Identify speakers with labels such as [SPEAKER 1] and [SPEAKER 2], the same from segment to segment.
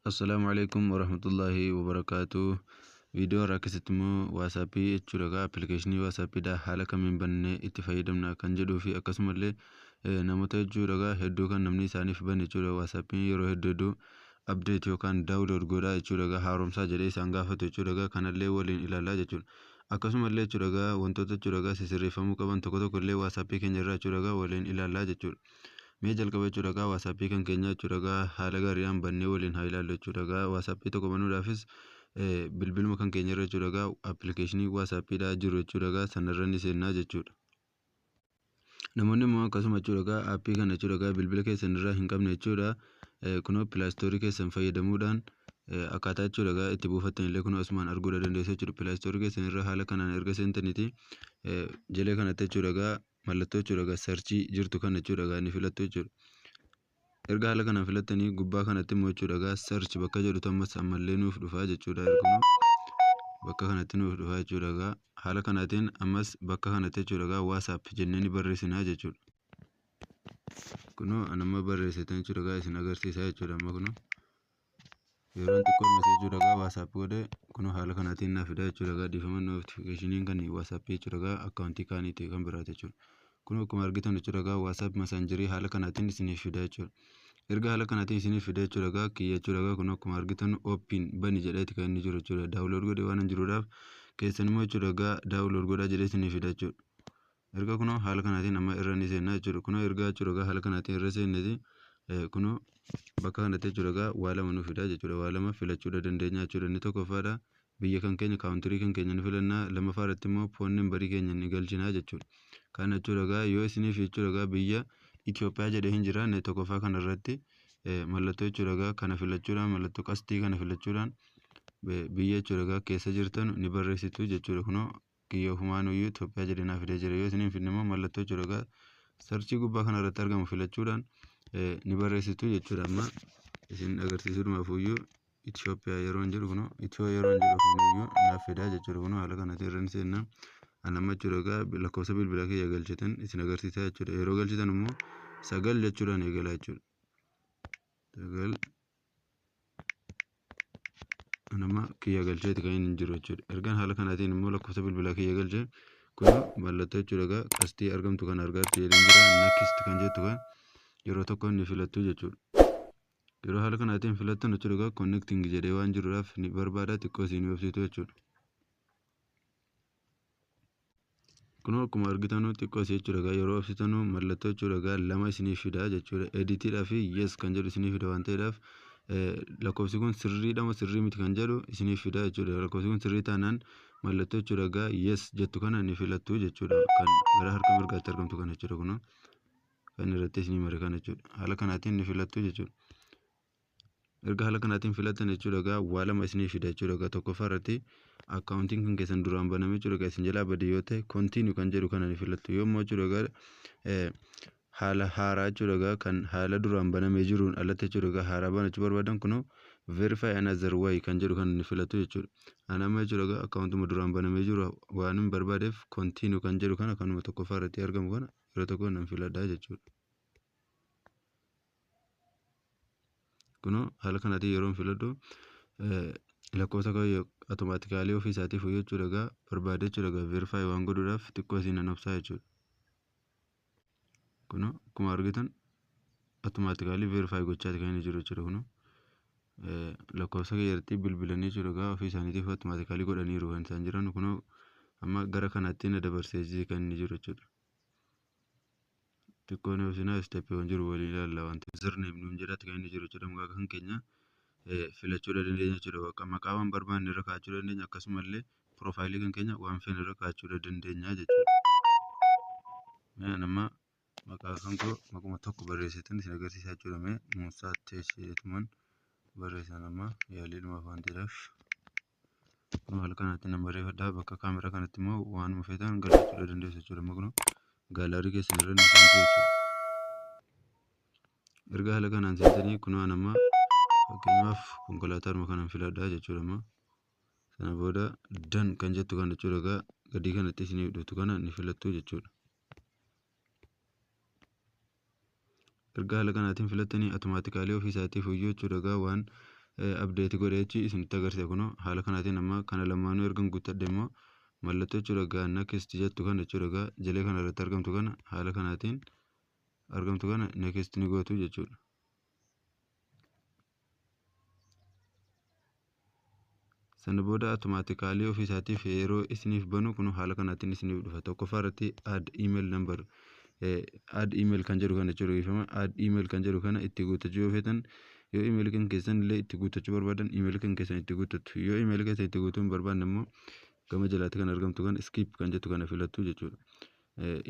[SPEAKER 1] Assalaamu alaikum warahmatullahi wabarakaatu. Viidiyoo irraa keessatti immoo waasaappii jechuudha egaa appilikeeshinii waasaappiidha haala kamiin bannee itti fayyadamna kan jedhuu fi akkasumallee namoota jechuudha egaa hedduu kan namni isaaniif bane jechuudha waasaappiin yeroo hedduu hedduu abdeet yookaan daawulood godhaa jechuudha egaa haaromsaa jedhee isaan gaafatu jechuudha egaa kanallee waliin ilaalaa jechuudha. Akkasumallee jechuudha egaa wantoota jechuudha egaa sisirreeffamuu qaban tokko tokko illee waasaappii keenya irraa jechuudha egaa waliin ilaalaa jechuudha. Mee jalqaba jechuudha egaa waasappii kan keenya jechuudha egaa haala gaariidhaan bannee waliin haa ilaallu jechuudha egaa waasappii tokko banuudhaafis bilbiluma kan keenya irra jechuudha egaa appilikeeshinii waasaappiidha jiru jechuudha egaa sanarra ni seennaa jechuudha. Namoonni immoo akkasuma jechuudha egaa aappii kana jechuudha egaa bilbila keessan irraa hin qabne jechuudha kunoo pilaastoorii keessan fayyadamuudhaan akkaataa jechuudha egaa itti buufattan illee kunoo asumaan arguu dandeessu jechuudha pilaastoorii keessan irra haala kanaan erga seentaniiti jalee kanatti jechuudha egaa mallattoo jechuudha egaa sarchii jirtu kana jechuudha egaa ni filattu jechuudha. Erga haala kanaan filattanii gubbaa kanatti immoo jechuudha egaa sarchi bakka jedhutu ammas ammallee nuuf dhufaa jechuudha erguma bakka kanatti nuuf dhufaa jechuudha egaa haala kanaatiin ammas bakka kanatti jechuudha egaa waasaap jennee ni barreessinaa jechuudha. Kunoo anamma barreessitan jechuudha egaa isin agarsiisaa jechuudha amma kunoo. yeroon xiqqoo miti jechuudha egaa waasaap godhe kun haala kanaatiin naaf fidaa jechuudha egaa dhiifama notifikashiniin kan waasaap jechuudha egaa akkaawuntii kaaniiti kan biraati jechuudha kun akkuma argitan jechuudha egaa waasaap masaanjirii haala kanaatiin isiniif fidaa jechuudha erga haala kanaatiin isiniif fidaa jechuudha egaa kiyya jechuudha egaa kun akkuma argitan ooppiin bani jedheeti kan inni jiru jechuudha daawulood godhe waan hin jiruudhaaf keessan immoo jechuudha egaa daawulood godhaa jedhee isiniif fidaa jechuudha Erga kunoo haala kanaatiin amma irra ni seenna jechuudha. Kunoo ergaa jechuudha egaa haala kanaatiin irra seenneti kunoo bakka kanatti jechuudha egaa waa lama nu fidaa jechuudha. Waa lama filachuudha dandeenya jechuudha. Inni tokkoffaadha biyya kan keenya kaawuntirii kan keenya ni filanna lammaffaa irratti immoo foon nambarii keenya ni galchina jechuudha. Kana jechuudha egaa yoo isiniif jechuudha egaa biyya Itoophiyaa jedhee hin jiraanne tokkoffaa kana irratti mallattoo jechuudha egaa kana filachuudhaan mallattoo qastii kana filachuudhaan biyya jechuudha egaa keessa jirtan ni barreessitu jechuudha kunoo kiyya ofumaanuyyuu Itoophiyaa jedhee naa fidee jira. Yoo isin hin fidne immoo mallattoo coroqaa sarchii gubbaa kana irratti argamu filachuudhaan eh, ni barreessitu jechuudha. Amma isin agarsiisuudhumaafuyyuu Itoophiyaa yeroon jedhu kunoo Itiyoo yeroon jedhu ofumayyuu naaf fidaa jechuudha. Kunoo haala kanatti irra ni seenna. An amma jechuudha egaa lakkoofsa bilbilaa kiyya galchitan isin agarsiisaa jechuudha. Yeroo galchitan immoo sagal jechuudhaan eegalaa jechuudha. Sagal nama kiyya galcheeti kan inni jiru jechuudha. Ergaan haala kanaatiin immoo lakkoofsa bilbilaa kiyya galche kun mallattoo jechuudha egaa qastii argamtu kan argaatti jedheen jira nakist kan jettu kan yeroo tokko ni filattu jechuudha. Yeroo haala kanaatiin filattan jechuudha egaa connecting jedhee waan jiruudhaaf ni barbaada xiqqoo isin obsitu jechuudha. Kunoo akkuma argitanuu xiqqoo isii jechuudha egaa yeroo obsitanuu mallattoo jechuudha egaa lama isiniif fida jechuudha editiidhaa fi yes kan jedhu isiniif fida waan ta'eedhaaf lakkoofsi kun sirriidha moo sirrii miti kan jedhu isiniif fida jechuudha lakkoofsi kun sirrii taanaan mallattoo jechuudha egaa yes jettu kana ni filattu jechuudha kan gara harka mirgaatti argamtu kana jechuudha kunoo kan irratti isinii mare kana jechuudha haala kanaatiin ni filattu jechuudha. erga haala kanaatiin filattan jechuudha egaa waa lama isinii fida jechuudha egaa tokkoffaa irratti akkaawuntiin kan keessan duraan baname jechuudha egaa isin jalaa bade yoo ta'e kontiinuu kan jedhu kana ni filattu yoo immoo jechuudha egaa haala haaraa jechuudha egaa kan haala duraan banamee jiruun alatti jechuudha egaa haaraa banachuu barbaadan kunoo verify another way kan jedhu kana ni filattu jechuudha ani amma jechuudha egaa akkaawuntuma duraan banamee jiru waan hin barbaadeef kontiinuu kan jedhu kana kanuma tokkoffaa irratti argamu kana yeroo tokko nan filadhaa jechuudha. Kuno haala kanaatiin yeroon filadhu lakkoofsa koo automaatikaalii ofii isaatii fooyya'u jechuudha egaa barbaade jechuudha egaa verify waan godhuudhaaf xiqqoo isiin nan obsaa jechuudha. Kuno akkuma argitan automaatikaalii verify gochaati kan inni jiru jechuudha kuno lakkoofsa keeyyatti bilbilanii jechuudha egaa ofii isaaniitiif automaatikaalii godhaniiru kan isaan jiran kuno amma gara kanatti na dabarsee kan inni jiru jechuudha. Xiqqoo ni obsinaa isteeppiiwwan jiru waliin ilaalla. Wanti username nuun jedhaatti kan inni jiru jechuudha. Maqaa kan keenya filachuu dandeenya jechuudha. Maqaa waan barbaanne irra kaa'achuu dandeenya akkasumallee piroofaayilii kan keenya waan feene irra kaa'achuu dandeenya jechuudha. Mee anamma maqaa kan koo maquma tokko barreesseetan isin agarsiisaa jechuudha. Mee Muusaa Teesheetuman barreessan amma yaaliidhumaaf waan ta'eef. haala kanatti nan barreeffadha bakka kaameraa kanatti immoo waanuma feetan galfachuudha dandeessu jechuudha amma kunoo gaalaarii keessan irra ni seentu jechuudha. Erga haala kanaan seentanii kunoo an amma fakkeenyaaf konkolaataadhuma kanan filadha jechuudha amma sana booda dan kan jettu kana jechuudha egaa gadii kanatti isiniif dhuftu kana ni filattu jechuudha. Erga haala kanaatiin filattanii automatically ofii isaatii fuyyoo jechuudha egaa waan update godhee jechi isinitti agarsiisa kunoo haala kanaatiin amma kana lamaanuu ergan guuttadhe immoo mallattoo jechuudha egaa next jettu kana jechuudha egaa jalee kana irratti argamtu kana haala kanaatiin argamtu kana next ni gootu jechuudha. sana booda automaatikaalii ofii isaatiif yeroo isiniif banu kun haala kanaatiin isiniif dhufa tokkoffaa irratti add email number add email kan jedhu kana jechuudha dhiifama add email kan jedhu kana itti guuttachuu yoo feetan yoo email kan keessan illee itti guuttachuu barbaadan email kan keessan itti guuttattu yoo email keessan itti guutuu hin barbaanne immoo gama jalaatti kan argamtu kan skip kan jettu kana filattu jechuudha.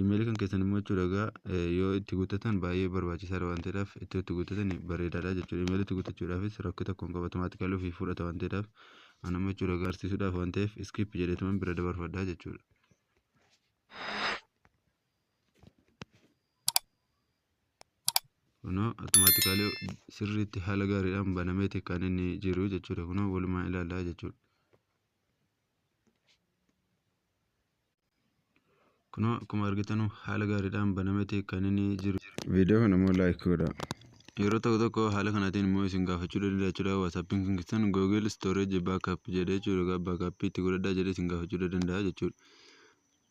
[SPEAKER 1] Email kan keessan immoo jechuudha egaa yoo itti guuttatan baay'ee barbaachisaadha waan ta'eedhaaf itti itti guuttatan bareedaadha jechuudha. Email itti guuttachuudhaafis rakkoo tokko hin qabu automaatikaalii ofii fudhata waan ta'eedhaaf anamma jechuudha agarsiisuudhaaf waan ta'eef skip jedheetuman bira dabarfadha jechuudha. Kunoo automaatikaalii sirriitti haala gaariidhaan banameeti kan inni jiru jechuudha. Kunoo walumaa ilaalaa jechuudha. Kunoo akkuma argitanu haala gaariidhaan banameeti kan inni jiru. Viidiyoo kana immoo laayik godhaa. Yeroo tokko tokko haala kanaatiin immoo isin gaafachuu danda'a jechuudha. Waatsaappiin kan keessan Google Storage Backup jedhee jechuudha. Egaa backup itti godhadhaa jedhee isin gaafachuu danda'a jechuudha.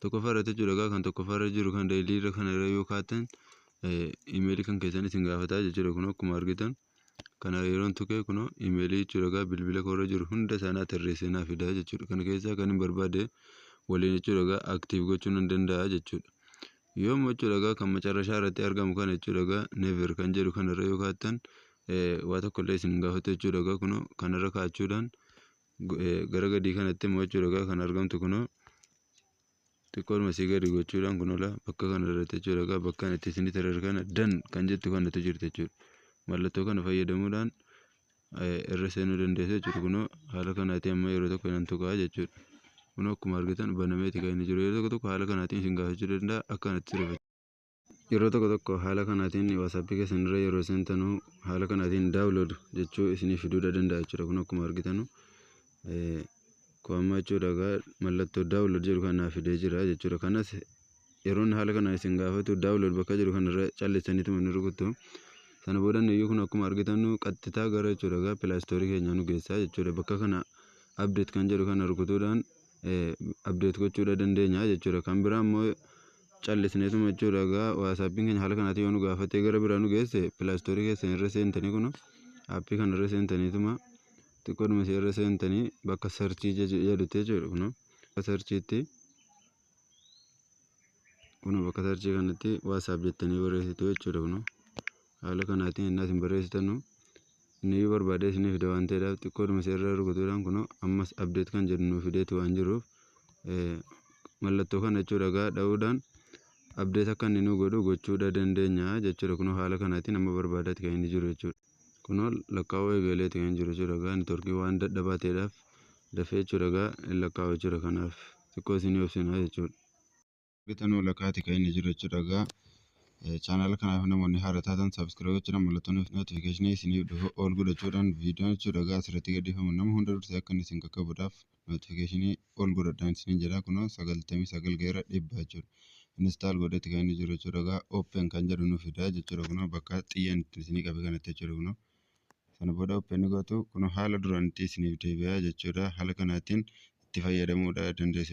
[SPEAKER 1] Tokkoffaa irratti jechuudha egaa kan tokkoffaa irra jiru kan dailii irra kana irra yoo kaatan imeelii kan keessan isin gaafataa jechuudha. Kun akkuma argitan Kana yeroon tuqee kunoo imeelii jechuudha egaa bilbila koorra jiru hunda isaanii tarreessee naa fidaa jechuudha. Kana keessaa kan hin barbaade waliin jechuudha egaa aktiiv gochuu nan danda'a jechuudha. Yoommoo jechuudha egaa kan macarrashaa irratti argamu kana jechuudha egaa never kan jedhu kanarra yoo kaattan waa tokko illee isin hin gaafatu jechuudha egaa kunoo kanarra kaachuudhaan gara gadii kanatti immoo jechuudha egaa kan argamtu kunoo xiqqoodhuma sii gadi gochuudhaan kun ola bakka kana irratti jechuudha egaa bakka itti isinii tarar kana dan kan jettu kanatu jirti jechuudha mallattoo kana fayyadamuudhaan irra seenuu dandeessu jechuudha kunoo haala kanaatiin amma yeroo tokko nan tuqaa jechuudha kunoo akkuma argitan banameeti kan inni jiru yeroo tokko tokko haala kanaatiin isin gaafachuu danda'a akka kanatti sirreeffachuu Yeroo tokko tokko haala kanaatiin WhatsApp keessan irra yeroo seentanu haala kanaatiin download jechuu isinii fiduudha danda'a jechuudha. Kun akkuma argitanu kun amma jechuudha egaa mallattoo download jedhu kan naa fidee jira jechuudha. Kanas yeroon haala kanaan isin gaafatu download bakka jedhu kan irra callisaniituma ni rukuttu. Sana booda iyyuu kun akkuma argitanu qaxxitaa gara jechuudha egaa Play Store keenyaa nu geessaa jechuudha. Bakka kana update kan jedhu kana rukutuudhaan update gochuudha dandeenya jechuudha. Kan biraa immoo callisneetuma jechuudha egaa waasaappiin keenya haala kanaatiin yoo nu gaafatee gara biraa nu geesse pilaastoorii keessan irra seentanii kun aappii kana irra seentaniituma xiqqoodhuma isee irra seentanii bakka sarchii jedhutti jechuudha kun bakka sarchiitti kun bakka sarchii kanatti waasaap jettanii barreessitu jechuudha kun. Haala kanaatiin ennaa isin barreessitanu inni barbaadee isinii fida waan ta'eedhaaf xiqqoodhuma isa irra rukutuudhaan kunoo ammas update kan jedhu nuu fideeti waan jiruuf mallattoo kana jechuudha egaa dha'uudhaan update akka inni nuu godhu gochuudha dandeenya jechuudha kunoo haala kanaatiin amma barbaadaati kan inni jiru jechuudha. Kunoo lakkaa'uu eegaleeti kan jiru jechuudha egaa networkii waan dadhabaa ta'eedhaaf dafee jechuudha egaa lakkaa'u jechuudha kanaaf xiqqoo isinii obsinaa jechuudha. Betan Walakaati kan inni jiru jechuudha egaa chaanaala kanaaf namoonni haara taatan sabiskiraayib jechuudha mallattoon notifikashinii isiniif dhufu ol godhachuudhaan viidiyoon jechuudha egaa asirratti gadhiifamu nama hunda dursee akka inni isin qaqqabuudhaaf notifikashinii ol godhadhaan isiniin jedha kunoo sagaltamii sagal ga'eera dhibba jechuudha instaal godhetti kan inni jiru jechuudha egaa open kan jedhu nu fidaa jechuudha kunoo bakka xiyyaan itti isinii qabe kanatti jechuudha kunoo sana booda open gootu kunoo haala duraanitti isiniif deebi'aa jechuudha haala kanaatiin itti fayyadamuudha dandeessu